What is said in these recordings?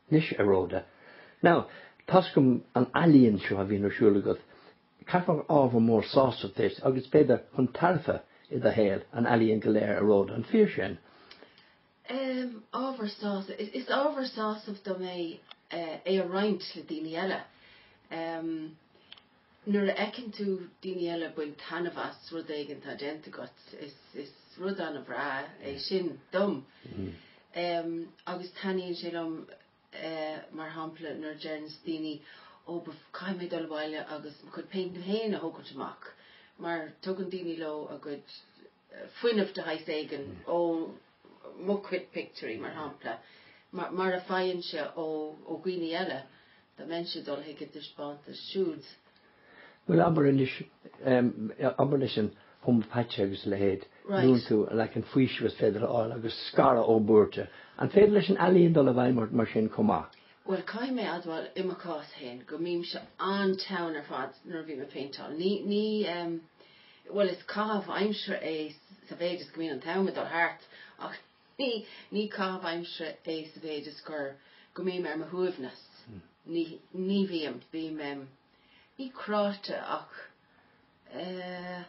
Anois, a Rhoda. Now, toisc an ealaíon seo a bhíonn ar siúl agat, caithfidh gur ábhar mór sásaimh duitse agus, b'fhéidir, chun tairbhe i do shaol, an ealaíon go léir, a Rhoda, an fíor sin? Em, ábhar sásaimh. Is ábhar sásaimh dom é é a roinnt le daoine eile. Em. Nuair a fheiceann tú daoine eile ag baint taitneamh as rud éigin atá déanta agat, is rud an-bhreá é sin dom. Agus taitníonn sé liom, mar shampla, nuair a deireanns daoine, 'Ó, caithfidh mé dul abhaile agus mo chuid péinteanna féin a thógáilt amach. Mar tugann daoine leo a gcuid fuinneamh de shaghas éigin ó mo chuid pictiúirí, mar shampla, mar a faighimse ó dhaoine eile, dá mbeinnse ag dul chuig a dtaispeántas siúd. Bhuel, abair anois, abair leis an hoiméapaite agus a leithéid, luann tú an leagan faoisimh is féidir a fháil agus scaradh ó bhuairte, an féidir leis an ealaín dul i bhfeidhm ort mar sin chomh maith? Bhuel, caithfidh mé a admháil, i mo chás féin, go mbímse an-teann ar fad nuair a bhím ag péinteáil. Ní. Bhuel, is caitheamh aimsire é sa mhéid is go mbíonn an t-am ag dul thart ach ní caitheamh aimsire é sa mhéid is gur, go mbím ar mo shuaimhneas. Ní bhím, bím, ní cráite ach eh,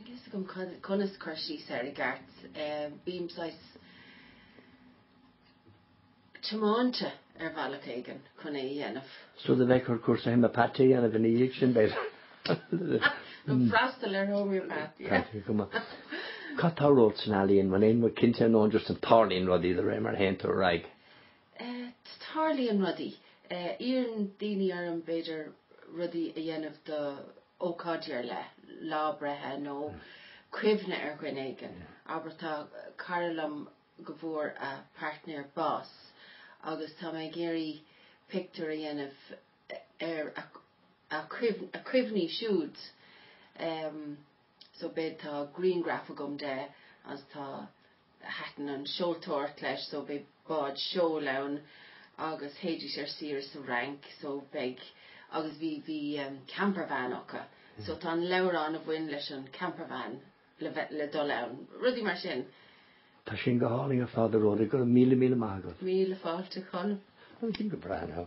níl a fhios agam conas cur síos air i gceart, bím saghas. tiomáinte ar bhealach éigin chun é a dhéanamh. So beidh ort cúrsa hoiméapaite a dhéanamh ina dhiaidh sin, b'fhéidir. Nó freastal ar homeopath, yeah. Cad tá romhat san ealaíon? Bhuel, níl mé cinnte ar ndóigh, just an tarlaíonn rudaí de réir mar a théann tú ar aghaidh. Tarlaíonn rudaí. Iarrann daoine orm, b'fhéidir, rudaí a dhéanamh do ócáidí ar leith, lá breithe nó cuimhne ar dhuine éigin. Abair, tá cara liom go bhfuair a pairtnéir bás agus tá mé ag iarraidh pictiúr a dhéanamh ina chuimhne siúd so beidh tá griangraf agam de agus tá thaitin an tseoltóireacht leis so beidh bád seoil ann agus théidís ar saoire sa Fhrainc so beidh agus bhí bhí campervan acu so tá an leabhrán a bhain leis an campervan le dul ann, rudaí mar sin. Tá sin go hálainn ar fad, a Rhoda. Go raibh míle míle maith agat. Míle fáilte, Colm. Go breá, now.